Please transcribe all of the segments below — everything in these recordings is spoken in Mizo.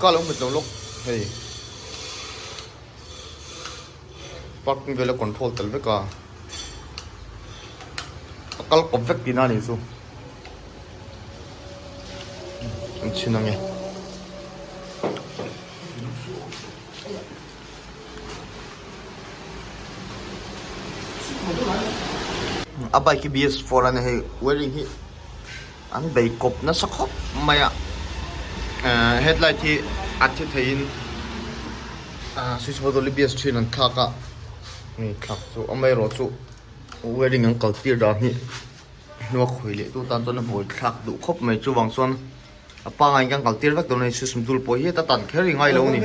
Ka lo hmet lo lawk hei. Parking vel a control tel vek a. A kal kawp vek tihna a nih chu. An chhin ang e. A bike hi BS4 a nia hei wiring hi. An bei kawp nasa khawp mai a, ahh headlight hi a thi thei in ahh switch bottle hi bias thin an thlak a, hei thlak chu awm erawh chu wiring an kal tir dan hi hnua khawi leh tu tan chuan a bawi thlak duh khawp mai chuvang chuan a pangai in kan kal tir vek dawn a ni, switch bul pawh hi heta tan kher ingailo a ni,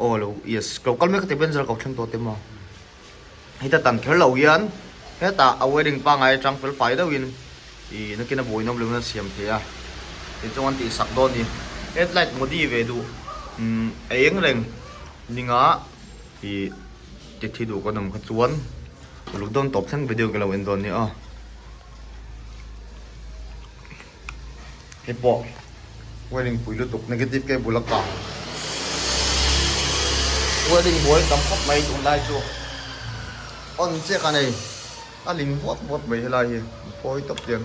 aw lo yes lo kal mek a ti a Benz a lo kal thleng tawh te maw. Heta tan kher loh hian heta a wedding pangai atang fel fai deuh in ih nakina buai nawm loin an siam thei a tin chungah an tih sak dawn ni headlight mudi ve duh umm a eng reng ninga ih titi duh kan awm kha chuan uluk dawn tawp thleng video ka lo en dawn ni aw. Hi pawh wiring pui lutuk negative ke bula kah wiring buai tam khawp mai tun lai chu on che ka nei a ling vawt vawt mai helai hi pawi tawp tiang.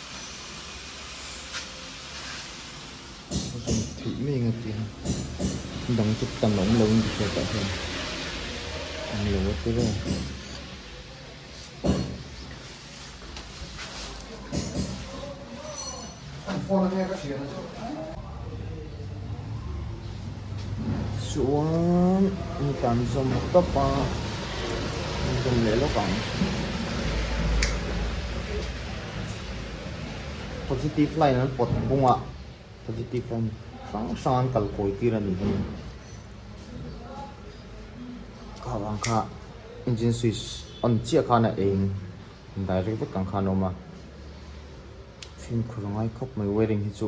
zun theih mai anga ti a dang chu tan awm lo in tichuan tah hian an lo a tir a. Chuan mitan zawm tawp a, zawm leh lawk ang. Positive line an pawt bunga positive line hrang hrang an kal kawi tir a nih hi. Kha vang kha engine switch on chiah khan a eng direct vek ang khan a awm a. Fimkhur a ngai khawp mai wiring hi chu.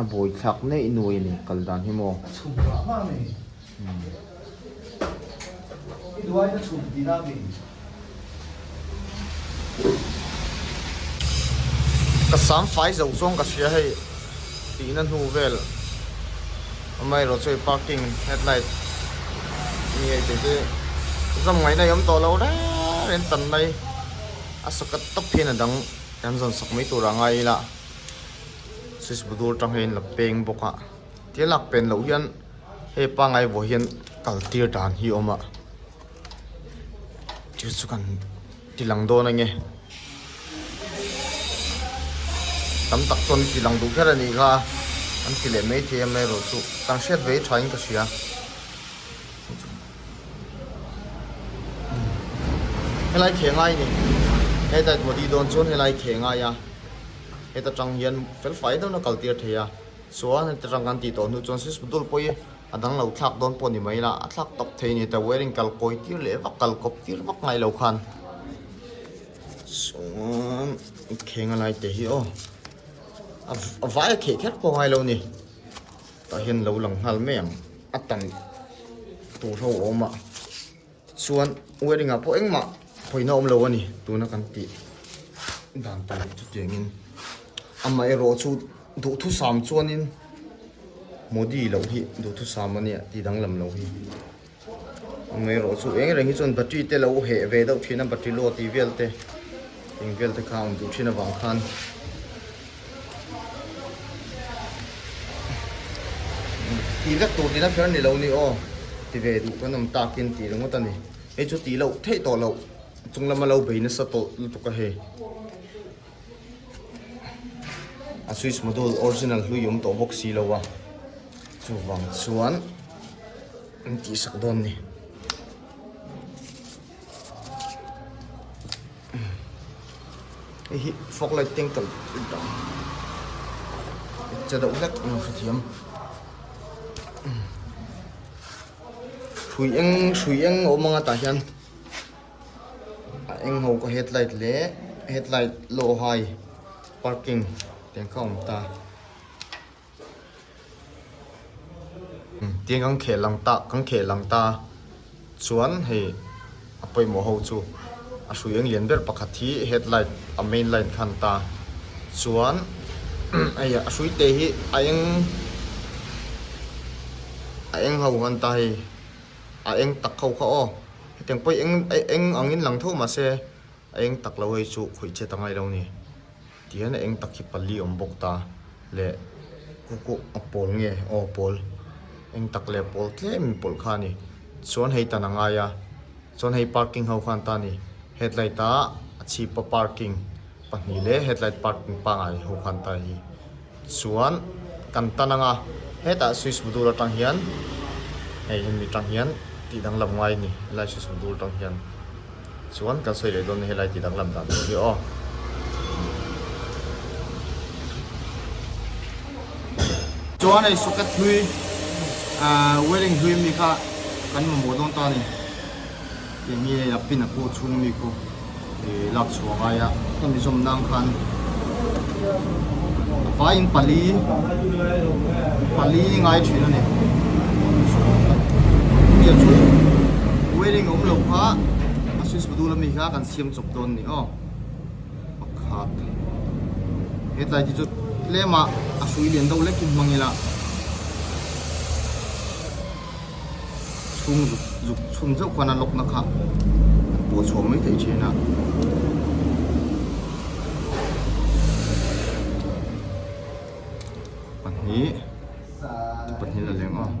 a bawi thlak neih nuai a ni kal dan hi maw. Ka sam fai zo chuan ka hria hei tihna hnu vel amaherawh chu hei parking headlight mi hei tete zam ngaihna hi awm tawh lo reng reng tan mai a socket tawp hian a dang. Kan zawn sak mai tur a ngai ila switch budur tang hian la peng bawk a tia lak pen loh hian hei pangai vawh hian kal tir dan hi awm a chu chu kan ti lang dawn ange tam tak chuan ti lang duh hial a ni kha an ti leh mai thei em erawh chu kan hriat vei tha in ka hria. Helai thengai ni heta i duhdi dawn chuan helai thengai a heta tang hian fel fai deuh na kal tir thei a chuan heta tang kan tih tawh hnu chuan switch dul pawi a dang lo thlak dawn pawh ni mai la a thlak tawp thei ni heta wire in kal kawi tir leh vak kal kawp tir vak ngai lo khan chuan i kheng alai te hi aw a vai a kheh kher pawh ngai lo ni. Tah hian lo lang nghal mai ang a tam tur ho a awm a tichuan wairing ah pawh engmah pawina awm lo a ni tuna kan tih dan tur chutiangin amaherawh chu duhthusam chuanin modi loh hi duhthusam a nia tih danglam lo hi. Awmze erawh chu eng reng hi chuan battery te lo heh ve deuh thin a battery load tih vel te eng vel te kha a awm duh thin avang khan tih vek tur din a fer ni lo ni aw ti ve duh kan awm tak in tih ringawt a ni hei chu tih loh theih tawh loh chung lama lo bei nasa tawh lutuk a hei. a switch module original hlui awm tawh bawk si lo a chuvang chuan an tih sak dawn a ni hei hi fog light teng tawh che deuh hlek a ni hre thiam hrui eng hrui eng a awm ang a tah hian. a eng ho ka headlight leh headlight low high parking tih ang kha awm ta tin kan khel ang ta kan khel ang ta chuan hei a pawimawh ho chu a hrui eng lian ber pakhat hi headlight a main light kha an ta chuan a hrui te hi a eng a eng ho an ta hei a eng tak ho kha aw. Hetiang pawi eng eng angin lang tho mah se a eng tak lo hei chu khawih chet a ngai lo ni. Ti hian a eng tak hi pali awm bawk ta leh kuku a pawl nge aw pawl eng tak leh pawl tlem in pawlh kha a ni. Chuan hei tan a ngai a chuan hei parking ho khan ta ni headlight a a chhip a parking pahnih leh headlight parking pangngai ho khan ta hi. Chuan kan tan anga hetah Swiss Budur atang hian hei hian mi tang hian tih dang lam ngai ni helai Swiss Budur tang hian chuan kan sawi leh dawn ni helai tih dang lam dan tur hi aw. Chuan hei socket hlui wiring hlui mi kha kan mamawh dawn ta a ni. Enge a pin a pu chhung mi khu i lak chhuah ngai a, hemi zawm nang khan a vai in pali pali ngai thin a ni. Hemi chu wedding awm lo kha a switch bu dul a mi kha kan siam chawp dawn ni aw. Pakhat he tlai te chu tlem a a hrui lian deuh lek in hmang ila. chhung zuk zuk chhung zeuh khan a lock na kha an pawh chhuah mai thei thin a pahnih te pahnih la leng aw --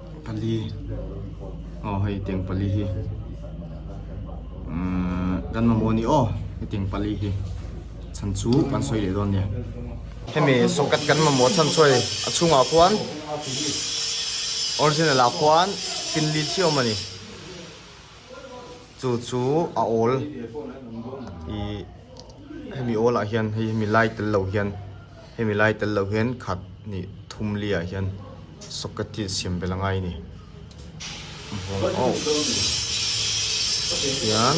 Pali aw hei teng pali hi kan mamawh a ni aw hei teng pali hi chhan chu kan sawi leh dawn nia hemi socket kan mamawh chhan sawi a chhungah khuan original ah khuan pin lithliawm a ni. chu chu a awl ih hemi awlah hian hei hemi lai tel lo hian hemi lai tel lo hian khat hnih thum liah hian socket hi siam belh a ngai a ni tihian.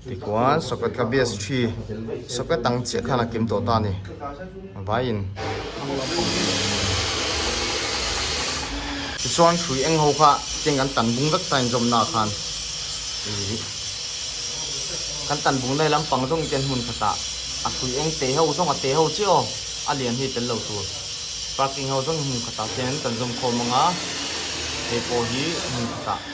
Tikuan socket ka bsg socket ang chiah khan a kim tawh ta ni vaiin tichuan hrui eng ho kha tiang kan tan bung vek ta in zawmna ah khan kan tan bung nai lampang zawng iten hmun khatah a hrui eng te ho zawng a te ho chiah aw a lian hi tel lo tur parking ho zawng hmun khatah hian kan zawm khawm ang a hei pawh hi hmun khatah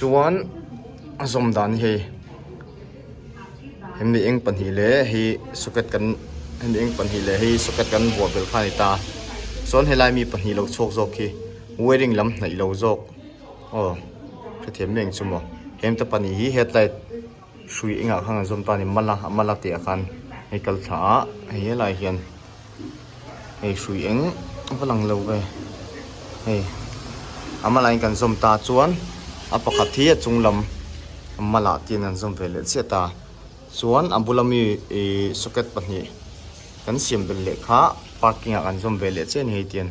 Chuan a zawm dan hi hei hemi eng pahnih leh hei socket kan hemi eng pahnih leh hei socket kan buah belh kha a ni ta chuan helai mi pahnih lo chhuak zawk hi wairing lam hnaih lo zawk aw hrethiam meng chu maw hemte pahnih hi headlight -- Hrui engah khan kan zawm ta a ni, mala a mala teh a khan hei kal thla a, hei helai hian hei hrui eng va lang lo e, hei a mala in kan zawm ta chuan a pakhat hi a chung lam mala tih in an zawm ve leh chiah ta chuan a bula mi ih socket pahnih kan siam belh leh kha parking ah kan zawm ve leh chiah a ni hei tian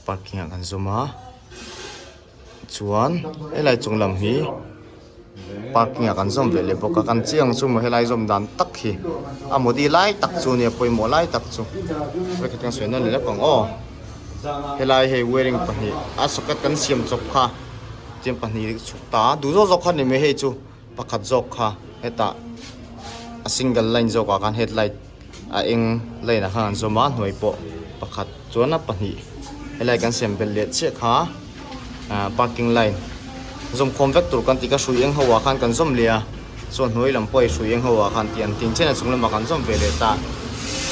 parking ah kan zawm a. chuan helai chung lam hi parking ah kan zawm ve leh bawk a kan chiang chu maw helai zawm dan tak hi a mawdi lai tak chu a ni a pawimawh lai tak chu vek atanga sawi nan leh lam pang aw helai hei wearing pahnih a socket kan siam chawp kha tiang pahnih chhuk ta duh zawk zawk khan a ni mai hei chu. Pakhat zawk kha hetah a single line zawkah khan headlight a eng line ah khan an zawm a, a hnuai pawh pakhat chuan a pahnih helai kan siam belh leh chiah kha ah parking line zawmkhawm vek tur kan ti ka hrui eng ho ah khan kan zawm leh a, chuan a hnuai lam pawh i hrui eng ho ah khan tih an ti ang, chhehna chung lamah kan zawm ve leh ta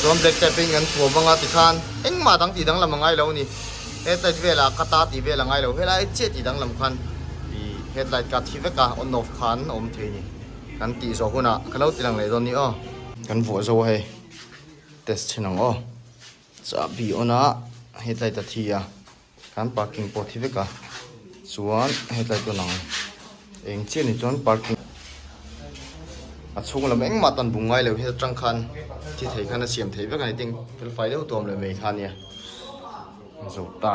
chuan black type in kan thu a vang a tikhan engmah dang tih danglam a ngailo a ni. Headlight vela ka ta ti vela ngai lo helai chiah ti dang lam khan i headlight ka thi vek a on off khan awm thei ni kan tih zawh hun a ka lo tilang leh dawn ni aw. Kan vuah zo hei test thin ang aw chahbi on a headlight a thi a kan parking pawh thi vek a chuan headlight on ang. Eng chiah ni chuan parking a chhung lam eng mah tan bung ngai lo hian atang khan thi thei khan a siam thei vek a ni ting fel fai deuh tuam lo mai kha nia zawk ta.